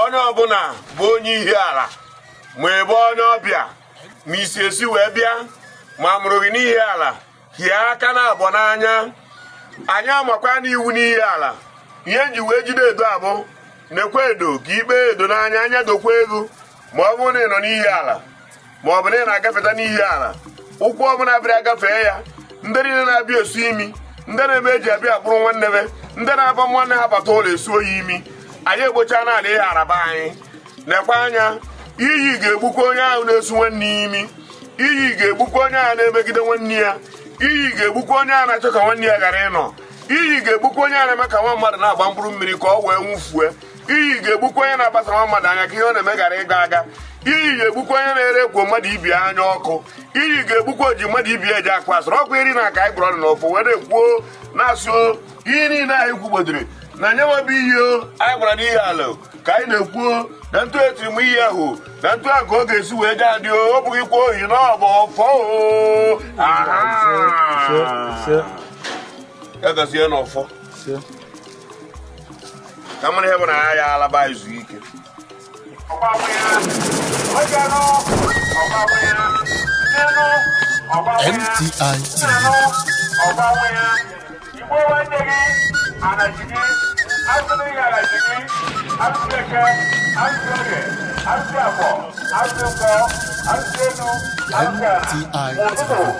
onye ọbụla bụ onye Ihiala ma ị bụ onye ọbịa ma i si esi wee bịa ma a mụrụ gị n'Ihiala hie aka naabọ n'anya anyị amakwana iwu n'Ihiala ihe e ji wee jide edo abụ na-ekwe edo ka ikpe edo n'anya anya dokwa ego ma ọ bụrụ na ị nọ n'Ihiala ma ọ bụ na ị na-agafeta n'Ihiala ụkwụ ọbụla bịara agafee ya ndị niile na-abịa esu imi ndị na-eme eji abịa akpụrụ nwanne be ndị na-aba nwanne ha bata ụlọ esu oyi imi anyị egbochana n'ala Ihiala be anyị lekwa anya iyi ga-egbukwa onye ahụ na-esu nwanne ya imi iyi ga-egbukwa onye ahụ na-emegide nwanne ya iyi ga-egbukwa onye ahụ na-achọ ka nwanne ya ghara ịnọ iyi ga-egbukwa onye ahụ na-eme ka nwa mmadụ na-agba mkpụrụ mmiri ka o wee nwụfue iyi ga-egbukwa onye na-agbasa nwa mmadụ anya ka ihe ọ na-eme ghara ịga aga iyi ga-egbukwa onye na-ere ekwo mmadụ ibe ya anya ọkụ iyi ga-egbukwa oji mmadụ ibe ya eji akpa asịrị ọkwa iri na aka anyị gwụrụ ọnụ n'ọfọ wee na-ekwu na-asị ihe niile anyị kwugbodiri na nye nwebe ihe anyị gwara n'Ihiala ka anyị na-ekwu na otu e tiri iyi ahụ na otu ahụ ka ọ ga-esi wee jee adị ọ bụghị kwa ohi na ọ bụ ọfọ egozie n'ọfọ ka mara ihe bụ na ya alaba izu ike MTI TV. MTI TV.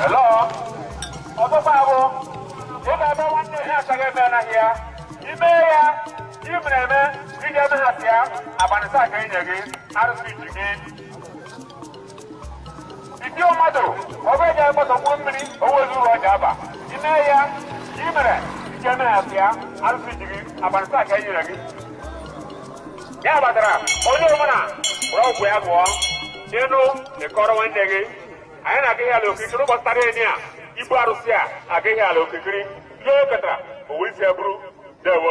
Hello? Ọkpụkpa bụ ị ga-ebe nwanne ya achọghị ebe anaghị ya ime ya ị mere eme ị ga-eme ha sị ya abanị isaa ka e nye gị arụsị ji gị Iti mmadụ ọbụ eji akpọtọgbu mmiri owezi ụlọ ọja aba ime ya i mere i je na-asị ya arụsị ji gị abanị isaa ka e nyere gị ya batara onye ọbụla were ọgwụ ya gụọ ịnụ ịkọrọ nwanne gị anyị na-aga Ihiala okirikiri ụbọchị taa ka e nye ya ibu arụsị ya aga Ihiala okirikiri ihe o ketara o we isi ya buru dewo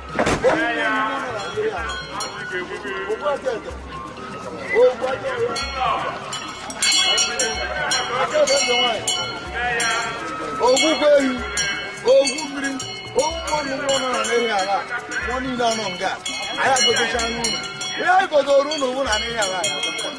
ogwugwu ehi ogwu mmiri ogwu mmadụ ụgwọ nọ na n'Ihiala mmụọ niile anọ nga anyị agotechana unu ihe anyị gotere unu ụgwụ na n'Ihiala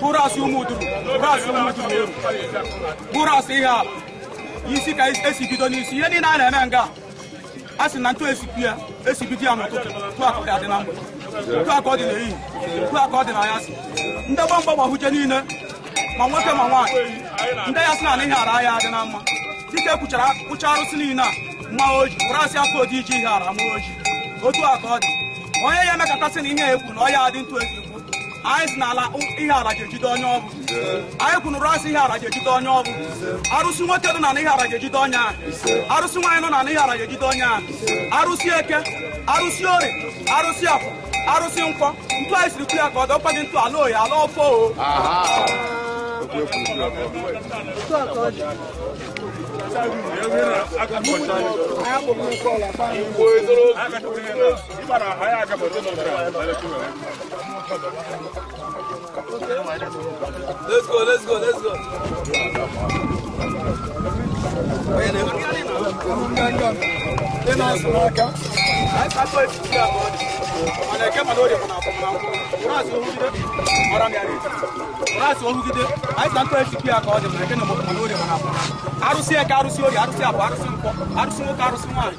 bụ arụsị Ụmụduru bụ arụsị Ụmụduru eru bụ arụsị ihe a isi ka esi bido n'isi ihe niile a na-eme nga a sị na ntụ esipi ya esibido ya n'ụtụtụ otu aka ọ dị na mgbede otu aka ọ dị n'ehihie otu aka ọ dị n'anyasị ndị gbamgba gbahuche niile ma nwoke ma nwaanyị ndị ya sị na ihe ara ya adị na mma dike kwuchara kwụcha arụsị niile a mma oji wụrụ asị afọ odi iji ihe ara mma oji otu aka ọ dị onye ya emekọtasị na ihe ekwu na ọ ya adị ntụ esi anyị si n'ala ihe ala ga-ejide onye ọbụ anyị kwunụrụ asị ihe ala ga-ejide onye ọbụ arụsị nwoke nọ na ihe ala ga-ejide onye a arụsị nwaanyị nọ na ihe ala ga-ejide onye a arụsị eke arụsị orie arụsị afọ arụsị nkwọ ntu anyị siri kwu ya ka ọ dọkwa gị ntu ala oyi ala ọfọ o Igbo ezoro Let's go, let's go, let's go. arụsị eke arụsị orie arụsị afọ arụsị nkwọ arụsị nwoke arụsị nwaanyị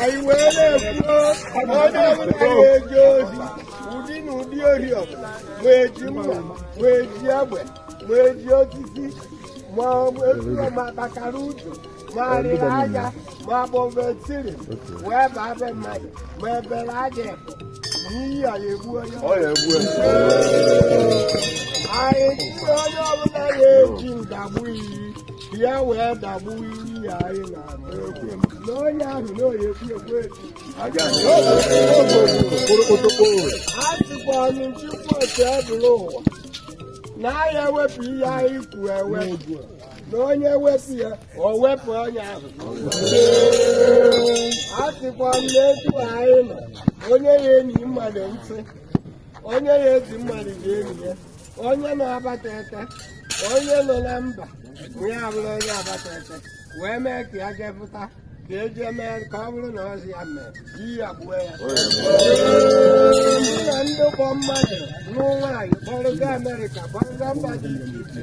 anyị wee na-ekwuo na onye ọbụla na-eje ohi ụdị na ụdị ori ọbụla ma eji mma ma eji egbe ma eji osisi ma etu ma kpakara ụzọ ma arịa aja ma ọ bụ ebe etiri wee baa be mmadụ ma ebere aja ebu na iyi a ya egbu onye ọ ya egbu ya anyị tụrụ onye ọbụla ya eji ndagbu iyi ka ya wee dagbu iyi ya anyị na-agba egwu na onye ahụ na oyi ekwu ekwu echi aja na a sịkwa ọnụ nchịkwa otu ebụla ụwa na a ya ewepụ ihe anyị kwuru ewepụ na onye wepụ ya o wepụ onye ahụ a sịkwa m n'etu anyị nọ onye ya enye mmadụ nsị onye ya eji mmadụ ji enye ya onye nọ agbata ete onye nọ na mba ya abụrụ onye agbata ete wee mee ka ya jepụta ka eji mee ka ọ bụrụ na ọzi ya mee iyi a gbuo ya ndị na ndị kpọ mmadụ ụmụ nwaanyị kpọrọga Amerịka kpọrọga mba dị iche iche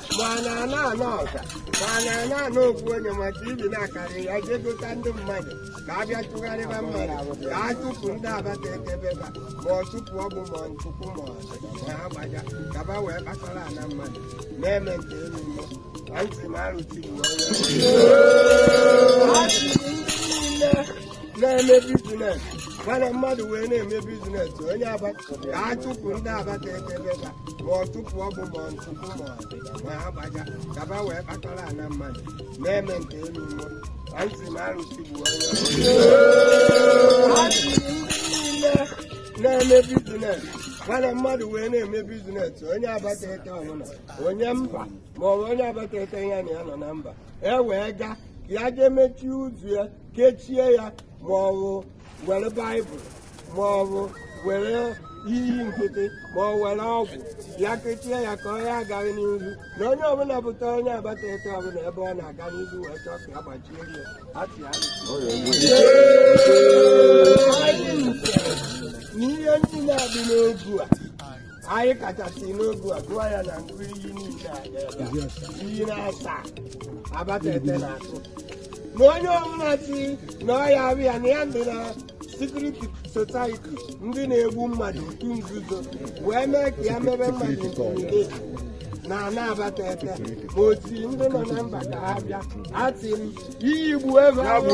mana a na-anọ ọka mana a na-anọ okwu onye ma TV na-akarị ya jee gota ndị mmadụ ka a bịa chụgharịba mmadụ ka a chụpụ ndị agbata ete beba ma ọ tụpụ ọgbụ ma ntụpụ ma ọsị na ha gbaja kaba wee kpakara ana mmadụ na-eme nke elu mmụọ na ntị m arụtiri na onye na-eme bizines mana mmadụ wee na-eme bizines onye agbata ka a chụpụ ndị agbata ete beba ma ọ tụpụ ọgbụ ma ọ ntụpụ ma ọ dị ma ha gbaja kaba wee kpatara ana mmadụ na-eme nke elu mmụọ na ntị m arụsị bụ onye na-eme bizines mana mmadụ wee na-eme bizines onye agbata ete ọbụla onye mba ma ọ bụ onye agbata ete ya na ya nọ na mba e wee gaa ka ya jee mechie ụzọ ya kechie ya ma ọ bụ were baịbụl ma ọ bụ were iyi nkịtị ma ọ were ọgwụ ya kechie ya ka onye agaghị n'ihu na onye ọbụla bụta onye agbata ete ọbụla ebe ọ na-aga n'ihu wee chọọ ka ya gbachie ya atị ya na ihe niile a dị n'ogu a anyị kachasị n'ogu a gụọ ya na ngụ iyi niile a ga-ebe a. iyi na-asa agbata ete na-atụ na onye ọbụla si na ọya abịa na ya ndị na secret society ndị na-egbu mmadụ otu nzuzo wee mee ka ya mebe mmadụ intimideti na ana agbata ete ma oti ndị nọ na mba ka ha bịa atị m iyi gbu ebe ahụ